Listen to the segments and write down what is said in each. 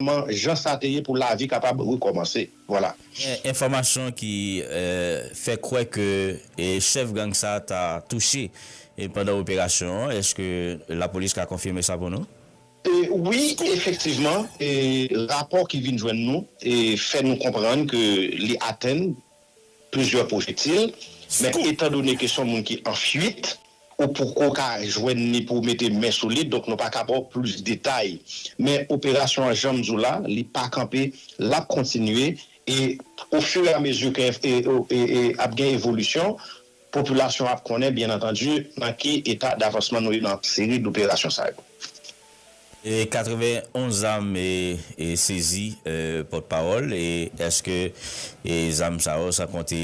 Kòman jan sa te ye pou lavi kapab rekòmanse. Vwala. Gen enfòmasyon ki fè kwè ke chèf gang sa ta touche pandan operasyon an. Eske lapolis ka konfime sa pou nou? Wi, efektivman, rapò ki vin jwenn nou fè nou konprann ke li atenn plizyè pwojetil, men etan done ke son moun ki an fuit, ou poko ka jwenn li pou w mete men sou li, donk nou pa ka ba w plis detay. Men operasyon an janm di w la, li pa kanpe, l ap kontinye e o fur et à mesure ke ap gen evolisyon, Popilasyon ap konnen, byen antandi, nan ki eta davansman nou ye nan seri doperasyon sa yo. 91 zam sezi pòt pawòl, èske zam sa yo san konte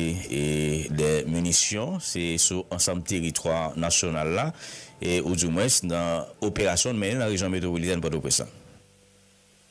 2 minisyon se sou ansanm teritwa nasyonal la ou di mwens nan operasyon nou mennen nan rejyon metwopolitèn Pòtoprens lan?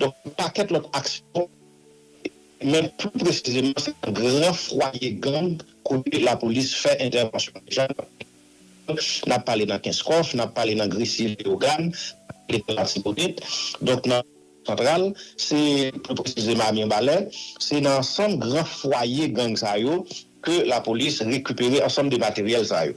Donk yon pakèt lòt aksyon men pli presizeman se nan gran fwaye gang kote lapolis fè entèvansyon deja nan peyi Kreyòl, nap pale nan Kenskòf, nap pale nan Gresi Leyogàn, nap pale nan Latibonit, donk nan Kongo santral, se pli presizeman a Mirbalè, se nan ansanm gran fwaye gang sa yo ke lapolis rekipere ansanm de materyèl sa yo.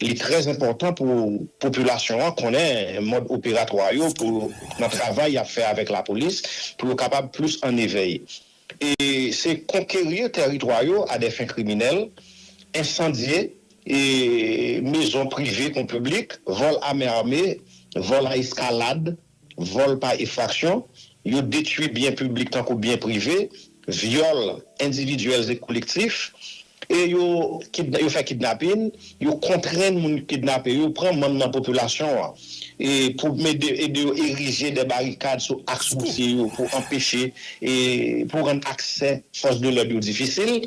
Li trè enpòtan pou popilasyon an konnen mòd operatwa yo pou nan travay y ap fè avèk lapolis pou yo kapab plis an evèy. E se konkerir tèritwa yo a dè fen kriminèl, ensandye e mezon prive kon piblik, vòl a men ame, vòl a eskalad, vòl pa efraksyon, yo detwi byen piblik tankou byen prive, vyòl endividyèl e kolektif, e yo yo fè kidnapin, yo kontrenn moun ki kidnape yo pran manm nan popilasyon an e pou mede ede yo erije dè barikad sou aks woutye yo pou anpeche e pou rann aksè fòs de lòd yo difisil.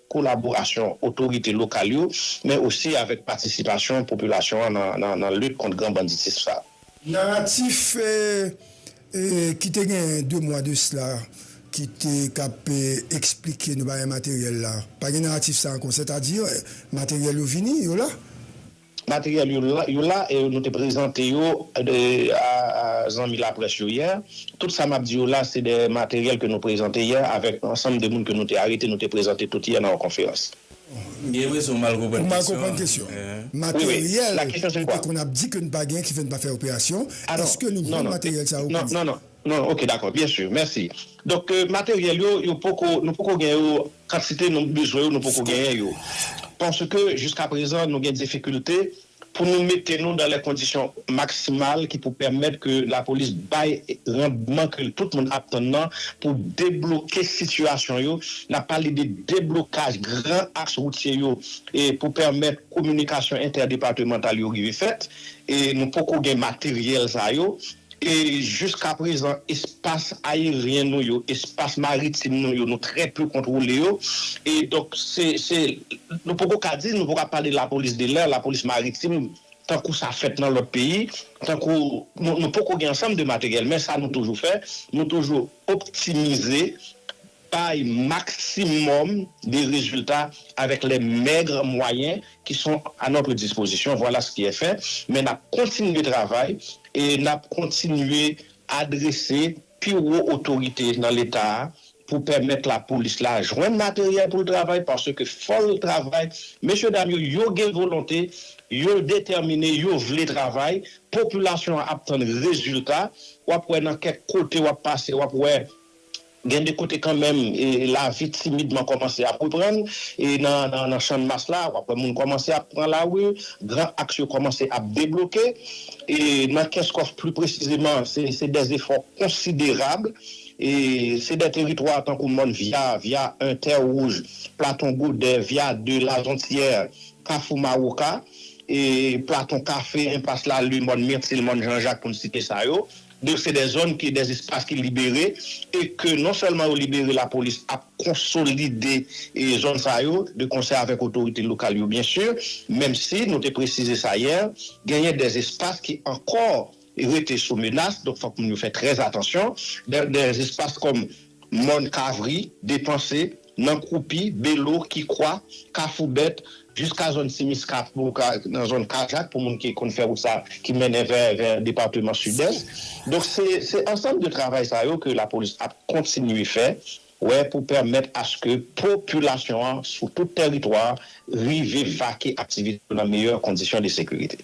kolaborasyon otorite lokal yo, men osi avèk patisipasyon popilasyon an nan lit kont gran banditism sa. Naratif ki te gen 2 mwa de sla ki te k ap esplike nou bagay materyèl la, pa gen naratif sa ankò, sètadi materyèl yo vini, yo la. Materyèl yo la e nou te prezante yo a zanmi laprès yo yè. Tout sa m ap di yo la se de materyèl ke nou prezante yè avèk ansanm de moun ke nou te arete nou te prezante tout yè nan yon konferans. M gen enpresyon ou mal konprann kesyon an. Ou mal konprann kesyon an. Materyèl nou te konn ap di ke nou pa gen ki fè nou pa fè operasyon, èske nou vann materyèl sa yo kounye a? Non, non, non. Non ok dakò byen sûr mèsi donk materyèl yo yo poko nou poko gen yo kantite nou bezwen yo nou poko genyen yo paske jiska prezan nou gen difikilte pou nou mete nou dan lè kondisyon maksimal ki pou pèmèt ke lapolis bay randman ke tout moun ap tann nan pou debloke sitiyasyon yo nap pale de deblokaj gran aks woutye yo e pou pèmèt kominikasyon entèdepatemantal yo rive fèt e nou poko gen materyèl sa yo E jiska prezan espas ayeryen nou yo, espas maritim nou yo, nou trè peu kontwole yo. E donk se, se, nou poko ka di, nou poko ka pale lapolis de lè, lapolis maritim tankou sa fèt nan lòt peyi, tankou nou, nou poko gen ansanm de materyèl. Men sa nou toujou fè, nou toujou optimize. bay maximum de rezilta avèk les maigres moyens qui sont à notre disposition, voilà ce qui est fait, men nap kontinye travay e nap kontinye adrese pi wo otorite nan leta a pou pèmèt la polis la jwenn materyèl pou l travay parce que fò l travay, mesye dam yo yo gen volonte, yo detèmine, yo vle travay, popilasyon an ap tann rezilta, wap wè nan kèk kote wap pase wap wè Gen de kote kanmenm lavi timidman kòmanse ap reprann e nan Channmas la w ap wè moun kòmanse ap pran lari, gran aks yo kòmanse ap debloke e nan Kenskòf pli presizeman se dè zefò konsiderab e se dè teritwa tankou Mòn Vya, Vya 1, Tè Wouj, Platon Godè, Vya 2, Lazontyè, Kafou Mawoka e Platon Kafe, Enpas Lalin, Mòn Mirtil, Mòn Janjak pou n site sa yo. Donk se de zòn ki de espas ki libere e ke non sèlman yo libere lapolis ap konsolide zòn sa yo de konsè avèk otorite lokal yo byen si menm si nou te presize sa yè genyen de espas ki ankò rete sou menas donk fòk moun yo fè trè atansyon de espas kòm mòn kavri depanse. Nan Koupi, Belo, Kikwa, Kafou Bèt, jiska zòn Ti Miska pou nan zòn Kajak pou moun ki konn fè wout sa ki mennen vè vè departeman Sidès. Donk se se ansanm de travay sa yo ke lapolis ap kontinye fè wè pou pèmèt aske popilasyon an sou tout tèritwa rive vake aktivite yo nan meyè kondisyon de sekirite.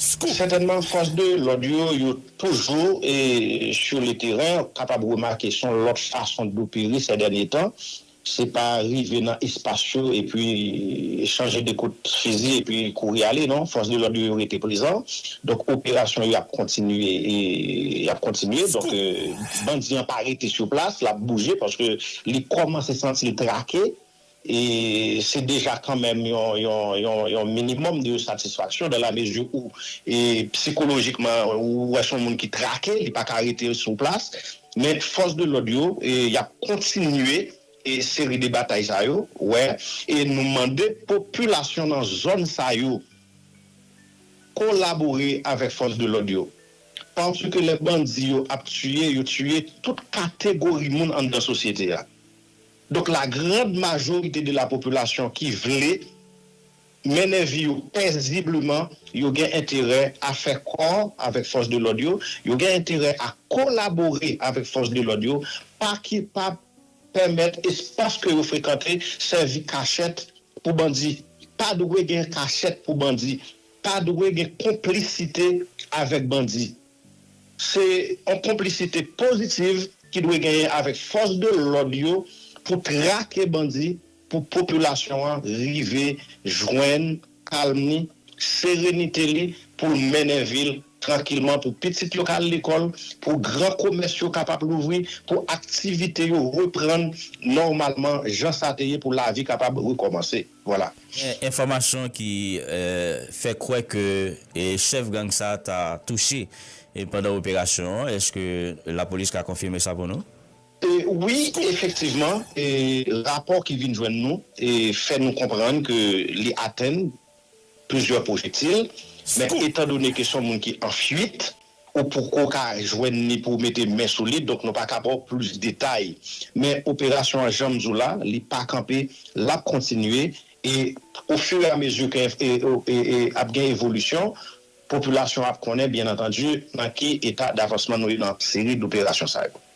Scoop! Sètènman fòs de lòd yo yo toujou sur le terrain, ou kapab remake son lòt fason dopere sè dènye tan, se pa rive nan espas yo epi chanje 2 kout fizi epi kouri ale non, fòs de lòd yo yo rete prezan, donk operasyon yo ap kontinye yap kontinye, donk bandi an pa rete sur plas lap bouje paske li kòmanse santil trake, E se deja kanmenm yon minimòm de satisfaksyon dan la mezi ou psikolojikman ou wè son moun ki trake, li pa ka rete sou plas. Men fòs de lòd yo y ap kontinye seri de batay sa yo wè e nou mande popilasyon nan zòn sa yo kolabore avèk fòs de lòd yo paske lè bandi yo ap tiye yo tiye tout kategori moun anndan sosyete a. Donk la grande majorité de la population ki vle mennen vi yo pèzibleman, yo gen enterè a fè kò avèk fòs de lòd yo, yo gen enterè a kolabore avèk fòs de lòd yo, pa ki pa pèmèt espas ke yo frekante sèvi kachèt pou bandi. Pa dwe gen kachèt pou bandi, pa dwe gen konplisite avèk bandi. Se yon konplisite pozitiv ki dwe genyen avèk fòs de lòd yo pou trake bandi pou popilasyon an rive jwenn kalm li, serenite li pou l mennen vi l trankilman, pou pitit yo ka al lekòl, pou gran komès yo kapab louvri, pou aktivite yo reprann nòmalman jan sa te ye pou lavi kapab rekòmanse. Voila. Enfòmasyon ki fè kwè ke chèf gang sa ta touche pandan operasyon an, eske lapolis ka konfime sa pou nou? Wi, efektivman, rapò ki vin jwenn nou fè nou konprann ke li atenn plizyè pwojektil, men etandone ke son moun ki an fuit, Ou poko ka jwenn li pou w mete men sou li, donk nou pa ka ba w plis detay. Men operasyon an jan m di w la, li pa kanpe, l ap kontinye e o fur et à mesure ke ap gen evolisyon, popilasyon an ap konnen byen antandi nan ki eta davansman nou ye nan seri doperasyon sa yo.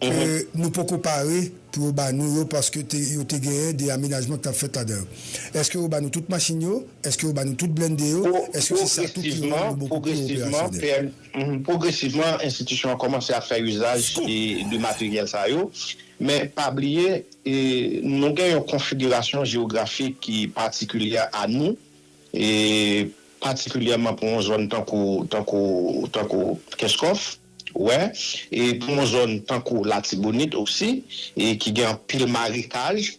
ke nou poko pare pou yo ba nou yo paske te yo te genyen de amenajman ki t ap fèt ladan yo. Eske yo ba nou tout machin yo? Eske yo ba nou tout blennde yo? Eske se sa tou ki rann nou boko pi operasyonèl? Pwogresivman, enstitisyon an kòmanse ap fè izaj de materyèl sa yo. Men, pa bliye, nou gen yon konfigirasyon jewografik ki patikilyè a nou, patikilyèman pou yon zòn tankou Kenskòf. Wè, e pou yon zòn tankou Latibonit osi, e ki gen anpil marekaj,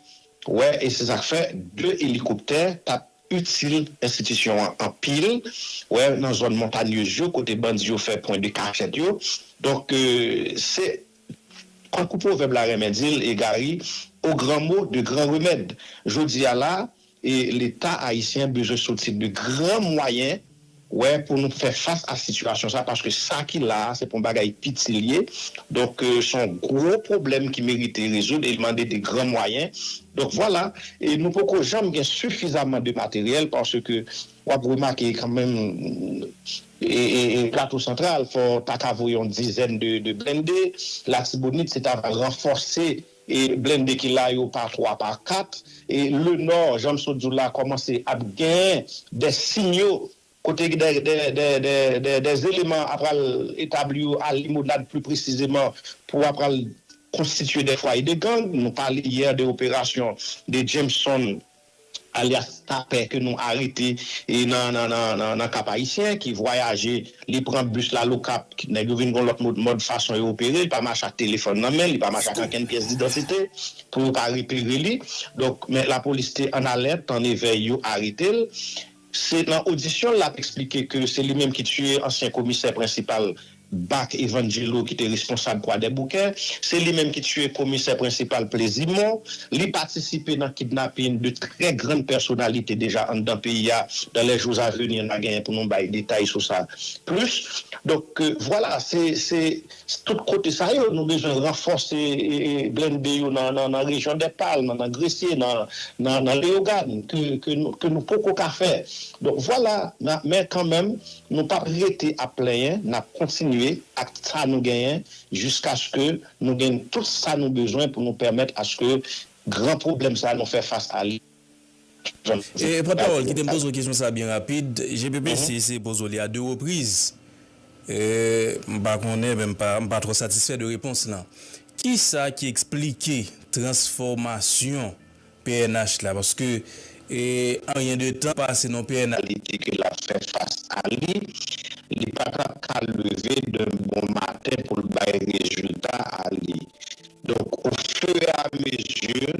wè, e se sa k fè 2 elikoptè t ap itil enstitisyon an anpil, wè, nan zòn montanyez yo kote bandi yo fè pwen de kachèt yo. Donk, se tankou pwovèb la renmen di l, Egari, o gran mo, de gran remèd. Jodi a la, E leta ayisyen bezwen soti de gran mwayen wè pou nou fè fas a sitiyasyon sa paske sa ki la a se pa yon bagay piti li ye donk se yon gwo pwoblèm ki merite rezoud e li mande de gran mwayen donk vwala e nou poko janm gen sifizaman de materyèl paske w ap remake kan menm e plato santral fò w ta ka voye yon dizèn de blende latibonit se ta va ranfòse. E blende ki la yo pa 3 pa 4. E le nò jan m sot di w la kòmanse ap gen dè sinyo kote dè dè dè dè dè eleman ap pral etabli yo a limonad pli presizeman pou ap pral konstitye dè fwaye de gang. Nou pale yè de operasyon de Jameson alyas Tapè ke nou arete nan Kap Ayisyen ki vwayaje, li pran bis la l'Okap, nèg yo vin gon lòt mòd fason yo opere, li pa mache ak telefòn nan men, li pa mache ak ankenn pyès didantite pou yo pa repere li. Donk men lapolis te an alèt, an evèy, yo arete l. Se nan odisyon l lap eksplike ke se li menm ki tiye ansyen komisè prensipal bak Evangelo ki te responsab kwadèboukè, se li menm ki tiye komisè prensipal plezimo, li patisipe nan kidnapin 2 trè grann pèsonalite deja anndan peyi a, dans les jours à venir na genyen pou nou bay detay sou sa plis, donk vwala se. Se tout kote sa yo nou bezwen ranfòse blende yo nan rejyon Dèpalm, nan Gresye, nan Leyogàn ke nou poko ka fè. Donk vwala, men kanmenm nou pap rete ap plenyen, n ap kontinye ak sa nou genyen jiskaske nou gen tout sa nou bezwen pou nou pèmèt aske gran pwoblèm sa nou fè fas a li. Pòt pawòl kite m poze w kesyon sa byen rapid, GPPC eseye poze w li a 2 repriz, m pa konnen men m pa twò satisfè de repons lan. Kisa ki eksplike transfòmasyon pnh la paske an ryen de tan pase non pnh. Reyalite ke l ap fè fas a li, li pa t ap ka leve de bon maten pou l bay rezilta a li. Donk o fur et à mesure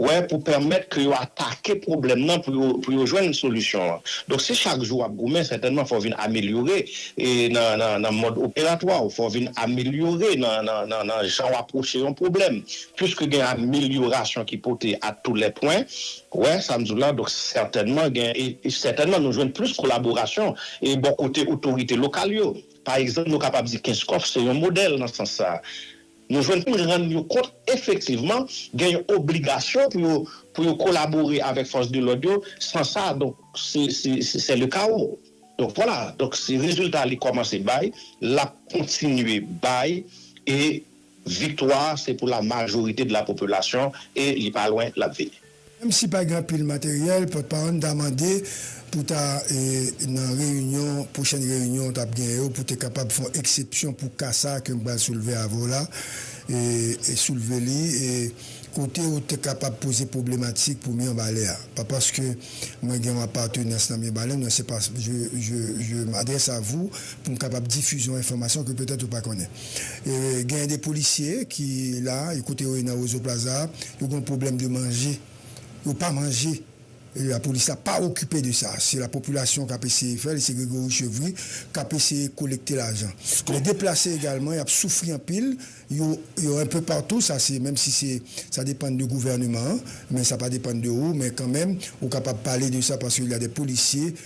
wè pou pèmèt ke yo atake pwoblèm nan pou yo pou yo jwenn solisyon an. Donk si chak jou wap goumen sètènman fòw vin amelyore nan nan nan mòd operatwa ou, fòw vin amelyore nan nan nan nan jan ou apwoche yon pwoblèm. Piske gen amelyorasyon ki pote a tou lè pwen, ou wè sam diw la, donk sètènman gen e sètènman nou jwenn plis kolaborasyon e bò kote otorite lokal yo. Pa egzanp nou kapab di Kenskòf se yon modèl nan sans sa. Yo jwenn pou rann yo kont efektivman gen yon obligasyon pou yo pou yo kolabore avèk fòs de lòd yo, san sa donk se se sè le kawo. Donk vwala, donk se rezilta li kòmanse bay, l ap kontinye bay e viktwa se pou la majorite de la popilasyon e li pa lwen l ap vini. Menm si pa gen anpil materyèl, pòtpawòl n ta mande pou ta nan reyinyon, pwochèn reyinyon w t ap genyen yo, pou te kapab fè yon eksepsyon pou ka sa ke m pral soulve avè w la, soulve li kote ou te kapab poze pwoblematik pou Mirbalè a. Pa paske mwen gen yon apatenans nan Mirbalè, non, se pa, je m'adresse à vous pou m kapab difize yon enfòmasyon ke petèt ou pa konnen. Genyen de polisye ki la, kote yo ye nan Roseau Plaza a, yo gen yon pwoblèm de manje. Yo pa manje. Lapolis la pa okipe de sa. Se lapopilasyon k ap eseye fè l e se Grégory Chevry k ap eseye kolekte lajan. Lè deplase egalman, y ap soufri anpil. Yo yo enpe patou. Sa se menm si se sa depann de gouvèneman an. Men sa pa depann de ou. Men kanmenm ou kapab pale de sa paske il y a des policiers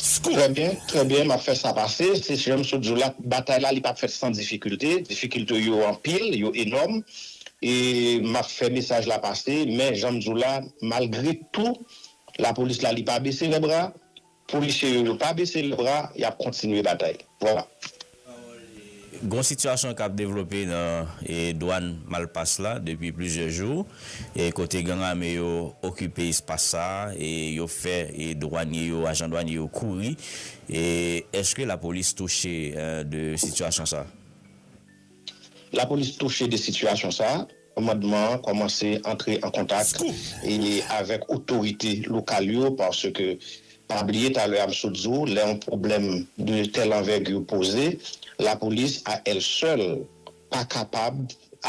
Pskou. Trè byen, trè byen, m ap fè sa pase. Se jan m sot di w la, batay la li pa p fèt san difikilte. Difikilte yo anpil, yo enòm. E m ap fè mesaj la pase. Men, jan m di w la, malgre tou, lapolis la li pa bese lèbra. Polisye yo yo pa bese lèbra. Y ap kontinye batay. Vwala. Gon sitiyasyon kap devlope nan dwàn Malpas la depi plizyè jou, kote gang ame yo okipe espas sa, yo fè dwanye yo, ajan dwanye yo kouri, eske lapolis touche de sitiyasyon sa? Lapolis touche de sitiyasyon sa, Kòmandman an kòmanse antre an kontak avèk otorite lokal yo paske pa bliye talè a m sot di w lè yon pwoblèm de tèl anvègi poze lapolis a èl sèl pa kapab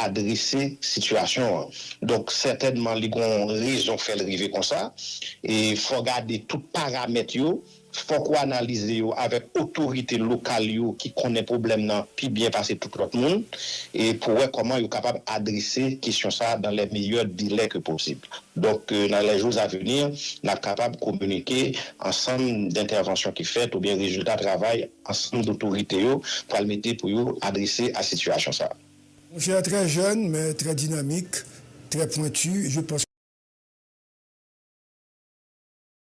adrese sitiyasyon an donk sètènman li gon rezon fè l rive konsa e fò gade tout paramèt yo. Fòk ou analize yo avèk otorite lokal yo ki konnen pwoblèm nan pi byen pase tout lòt moun e pou wè kòman yo kapab adrese kesyon sa dans les meilleurs délais que possible. Donk ke nan les jours à venir n ap kapab kominike ansanm dentèvansyon ki fèt oubyen rezilta travay ansanm dotorite yo pral mete pou yo adrese a sitiyasyon sa. Monchè trè jèn men trè dinamik, trè pwentu, je panse.